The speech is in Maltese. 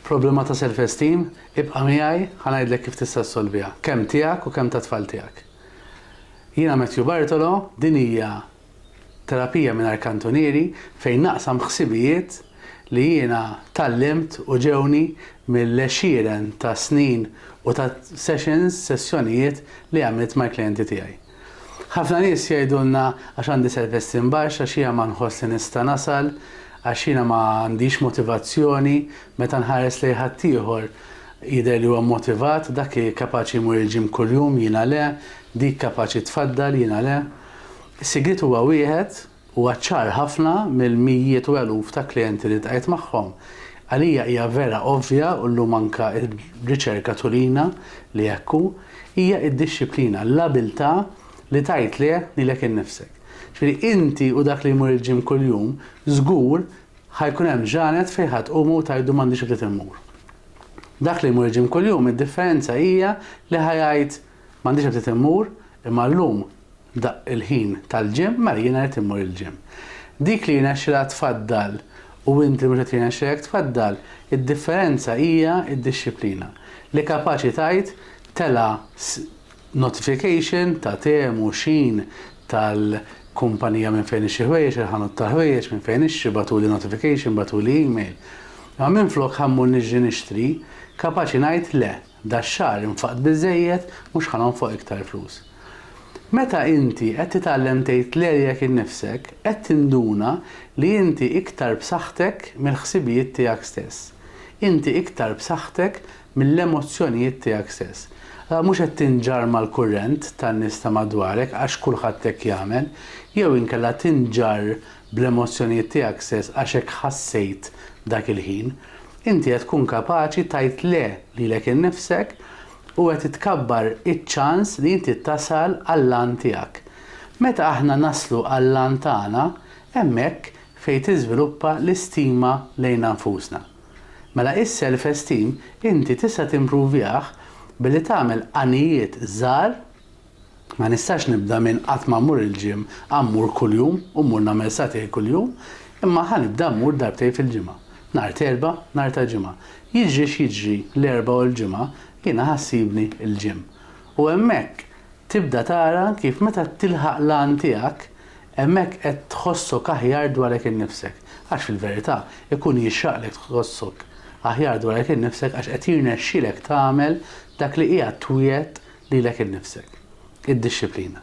Problema ta' self esteem? Ibqa' miegħi ħa ngħidlek kif tista' ssolviha, kemm tiegħek u kemm tat-tfal tiegħek. Jiena Matthew Bartolo, din hija terapija mingħajr kantunieri fejn naqsam ħsibijiet li jiena tgħallimt u ġewni mill-għexieren ta' snin u ta' sessions, sessjonijiet, li għamilt mal-klijenti tiegħi. Ħafna nies jgħidulna għax għandi self-esteem baxx, għax jiena ma nħoss li nista' nasal, għax jiena ma għandix motivazzjoni, meta nħares lejn ħaddieħor jidher li huwa motivat, dak kapaċi jmur il-gym kuljum, jiena le, dik kapaċi tfaddal, jiena le. Is-sigriet huwa wieħed, Huwa ċar ħafna mill-mijiet u eluf ta' klijenti li ltqajt magħhom. Għalija hija vera ovvja u llum anke r-riċerka turina li hekk hu, hija d-dixxiplina, l-abiltà li tgħid le lilek innifsek. Ġifieri inti u dak li jmur il-gym kuljum, żgur ħa jkun hemm ġranet fejn ħa tqumu u tgħidu m'għandix ftit immur. Dak li jmur il-gym kuljum id-differenza hija li ħa jgħid M'għandix aptit immur, imma llum daqq il-ħin tal-gym, mela jiena rrid immur il-gym. Dik li jirnexxilha tfaddal u inti mhux qed jirnexxilek tfaddal, id-differenza hija d-dixxiplina. Li kapaċi tgħid tela' notification ta' Temu, Shein, tal-kumpanija minn fejn nixtri ħwejjeġ, il-ħanut tal-ħwejjeġ minn fejn nixtri, bagħtuli notification, bagħtuli email. Imma minflok ħa mmur niġri nixtri, kapaċi ngħid le. Dax-xahar infaqt biżżejjed, mhux ħa nonfoq iktar flus. Meta inti qed titgħallem tgħid le lilek innifsek, qed tinduna li inti iktar b'saħħtek mill-ħsibijiet tiegħek stess. Inti iktar b'saħħtek mill-emozzjonijiet tiegħek stess. Allura mhux qed tinġarr mal-kurrent tan-nies ta' madwarek għax kulħadd hekk jagħmel, jew inkella tinġarr bl-emozzjonijiet tiegħek stess għax hekk ħassejt dak il-ħin, inti qed tkun kapaċi tgħid le lilek innifsek u qed itkabbar iċ-ċans li inti tasal għall-għan tiegħek. Meta aħna naslu għall-għan tagħna, hemmhekk fejn tiżviluppa l-istima lejna nfusna. Mela is-self esteem inti tista' timpruvjah billi tagħmel għanijiet żgħar Ma nistax nibda minn qatt ma mmur il-gym, a mmur kuljum u mmur nagħmel sagħtejn kuljum, imma ħa nibda mmur darbtejn fil-ġimgħa, nhar t'Erbgħa, nhar ta' Ġimgħa. Jiġri x'jiġri l-Erbgħa u l-Ġimgħa jiena ħa ssibni l-gym. U hemmhekk tibda tara kif meta tilħaq l-għan tiegħek, Hemmhekk qed tħossok aħjar dwarek innifsek, għax fil-verità, ikun jixraqlek tħossok aħjar dwarek innifsek għax qed jirnexxilek tagħmel dak li qiegħed twiegħed lilek innifsek, id-dixxiplina.